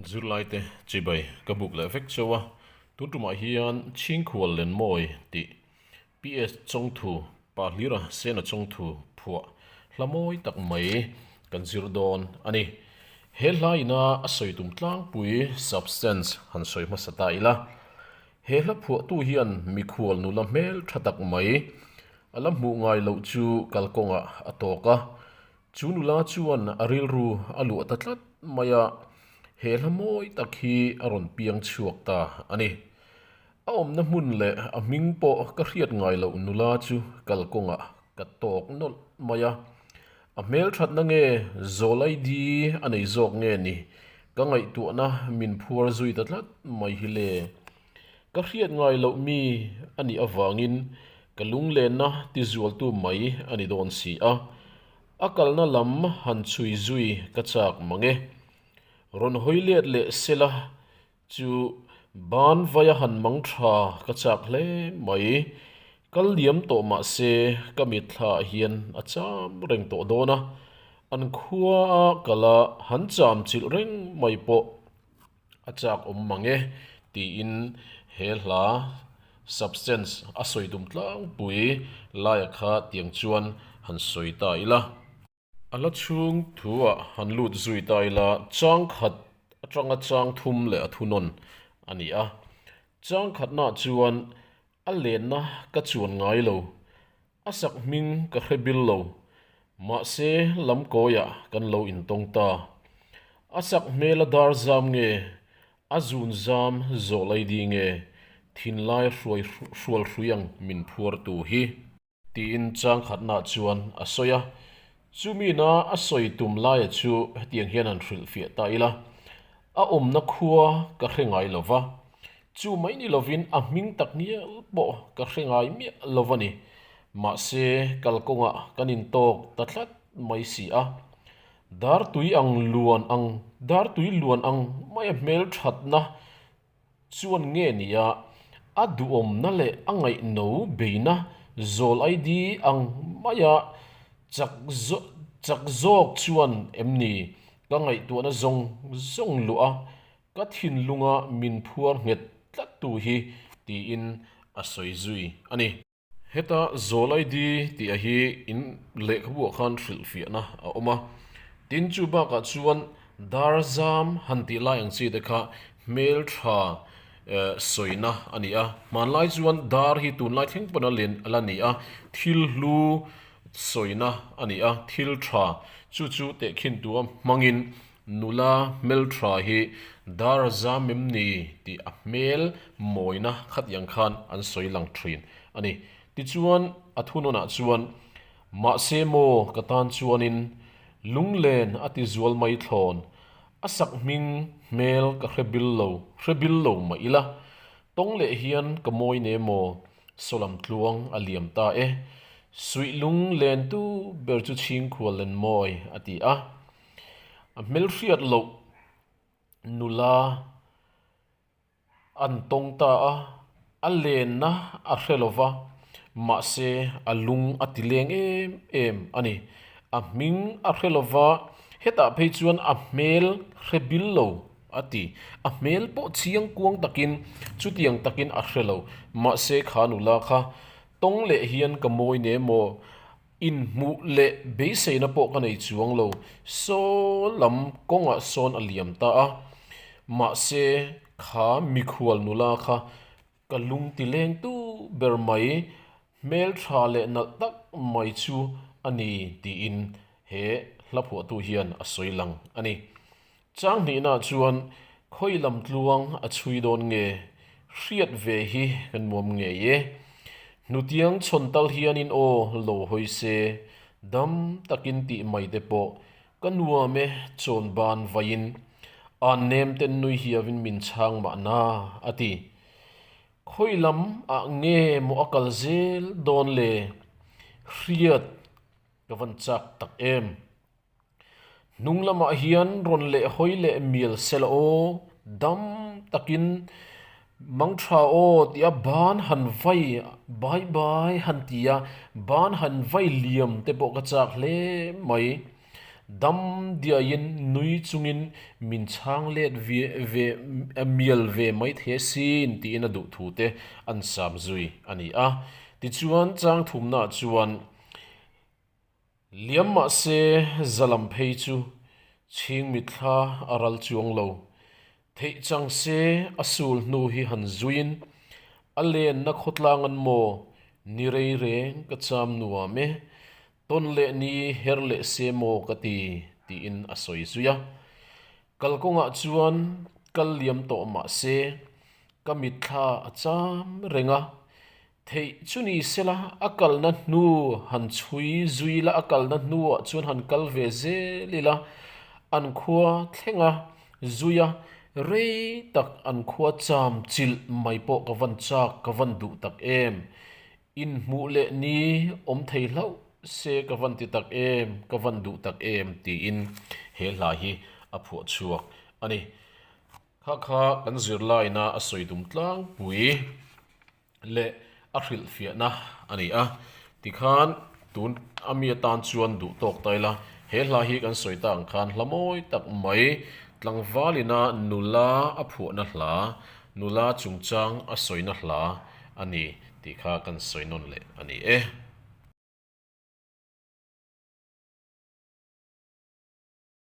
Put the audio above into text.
Zirlaite chibai ka buk leh vek cheu a, tun tumah hian Chhingkhual Lenmawi tih PS chawngthu Pahlira Sena chawngthu phuah hla mawi tak mai kan zir dawn a ni. He hla ina a sawi tum tlangpui substance han sawi hmasa ta ila. He hla phuahtu hian mikhual nula hmeltha tak mai. A la hmuh ngai loh chu kalkawngah a tawk a. Chu nula chuan a rilru a luah ta tlat mai a, he hla mawi tak hi a rawn piang chhuak ta a ni. A awmna hmun leh a hming pawh ka hriat ngai loh nula chu kalkawngah ka tawk nawlh mai a. A hmelthatna nge zawl ai di a nei zawk nge ni? Ka ngaihtuahna min phuar zui ta tlat mai hi le. Ka hriat ngai loh mi a nih avangin ka lunglenna ti zualtu mai a ni dawn si a, a kalna lam han chhui zui ka chak mang e. Rawn hawi let leh sela chu ban vai a han mang tha ka chak hle mai. Kal diam tawh mah se ka mitthlah hian a cham reng tawh dawn a, an khua a kala han cham chilh reng mai pawh a chak awm mange tiin he hla substance a sawi dum tlangpui laia kha tiang chuan han sawi ta ila, a la chhung thuah han lut zui ta ila chang khat atanga chang thum leh a thunawn a ni a. Chang khatna chuan a lenna ka chuan ngai lo A sak hming ka hre bil lo, mahse lam kawiah kan lo intawng ta. A sak hmel a dar zam nge, a zun zam zawh lai di nge, thinlai hruai hrual hruiang min phuar tu hi? Tiin changkhatna chuan a sawi a, Chu mina a sawi tum laia chu hetiang hian an hrilh fiah ta ila, A awmna khua ka hre ngai lo va, chu mai ni lovin a hming tak ngial pawh ka hre ngai miah lo va ni. Mahse kalkawnga kan intawk ta tlat mai si a. Dartui ang luan ang, dartui luan ang maia hmelthatna Chuan nge nia a duhawmna leh a ngaihno beina zawl ai di ang mai a, chak zawk chak zawk chuan em ni ka ngaihtuahna zawng zawng luh a, ka thinlunga min phuar nghet tlat tu hi, tiin a sawi zui a ni. Heta Zawl ID tih a hi in lehkhabuah khan hrilh fiahna a awm a, tin chu bakah chuan dar zam han tih lai ang chi te kha hmeltha sawina a ni a, hmanlai chuan dar hi tunlai thleng pawn a la ni a, thil hlu sawina a ni a, thil tha chu chu tehkhintu a hmangin Nula hmeltha hi dar a zam em ni tih a hmel mawina khatiang khan an sawi lang thin a ni. Tichuan a thunawnah chuan, Mahse maw ka tan chuanin lunglen a ti zual mai thlawn, a sak hming hmel ka hre bil lo, hre bil lo mah ila, tawng leh hian ka mawi ne maw, saw lam tluang a liam ta e, suih lung len tu ber chu chhingkhual len mawi a ti a. A hmel hriat loh nula an tawng ta a, a lenna a hre lo va, mahse a lung a ti leng em em a ni. A hming a hre lo va, hetah phei chuan a hmel hre bil lo a ti. A hmel pawh chiang kuang takin chutiang takin a hre lo. Mahse kha nula kha, Tawng leh hian ka mawi nem maw? Inhmuh leh beiseina pawh ka nei chuang lo. Saw lam kawngah sawn a liam ta a. Mahse, kha mikhual nula kha ka lung ti leng tu ber mai, hmeltha leh nalh tak mai chu a ni tiin he hla phuahtu hian a sawi lang a ni. Chang hnihna chuan khawi lam tluang a chhui dawn nge hriat ve hi kan nuam ngei e. Hnutiang chhawn tal hianin aw lo hawi se dam takin tih mai te pawh ka nuam e chawn ban vaiin an nem ten nui hiavin min chhang mahna a ti. Khawi lam ah nge maw a kal zel dawn le hriat ka van chak tak em. Hnung lamah hian rawn leh hawi leh mial se la aw, dam takin mang tha aw tih a ban han vai, bai bai han ti a, ban han vai liam te pawh ka chak hle mai. Dam diai in nui chung in min chhang let ve mial ve mai the sin tiin a duh thu te an sam zui a ni a. Tichuan chang thum na ah chuan. Liam mah se Zalam phei chu chhing mitthla a ral chuang lo. Theih chang se a sul hnu hi han zuiin a lenna khawtlang an maw ni rei reng ka cham nuam e. Tawn leh ni her leh se maw ka ti tiin a sawi zui a. Kalkawngah chuan kal liam tawh mah se ka mitthla a cham reng a. Theih chu ni sela, a kalna hnu han chhui zui la, a kalna hnuah chuan han kal ve zel ila, an khua thleng a zui a, rei tak an khua cham chilh mai pawh ka van chak ka van duh tak em, inhmuh leh ni awm thei hlauh se ka van ti tak em, ka van duh tak em tiin he hla hi a phuah chhuak a ni. Khakha kan zirlaina a sawi dum tlangpui. leh a hrilhfiahna a ni a, tikhan tun a mi atan chuan duh tawk ta ila, he hla hi kan sawi ta ang khan hla mawi tak mai, tlangvalina nula a phuahna hla, nula chungchang a sawina hla a ni tih kha kan sawi nawn leh a ni e.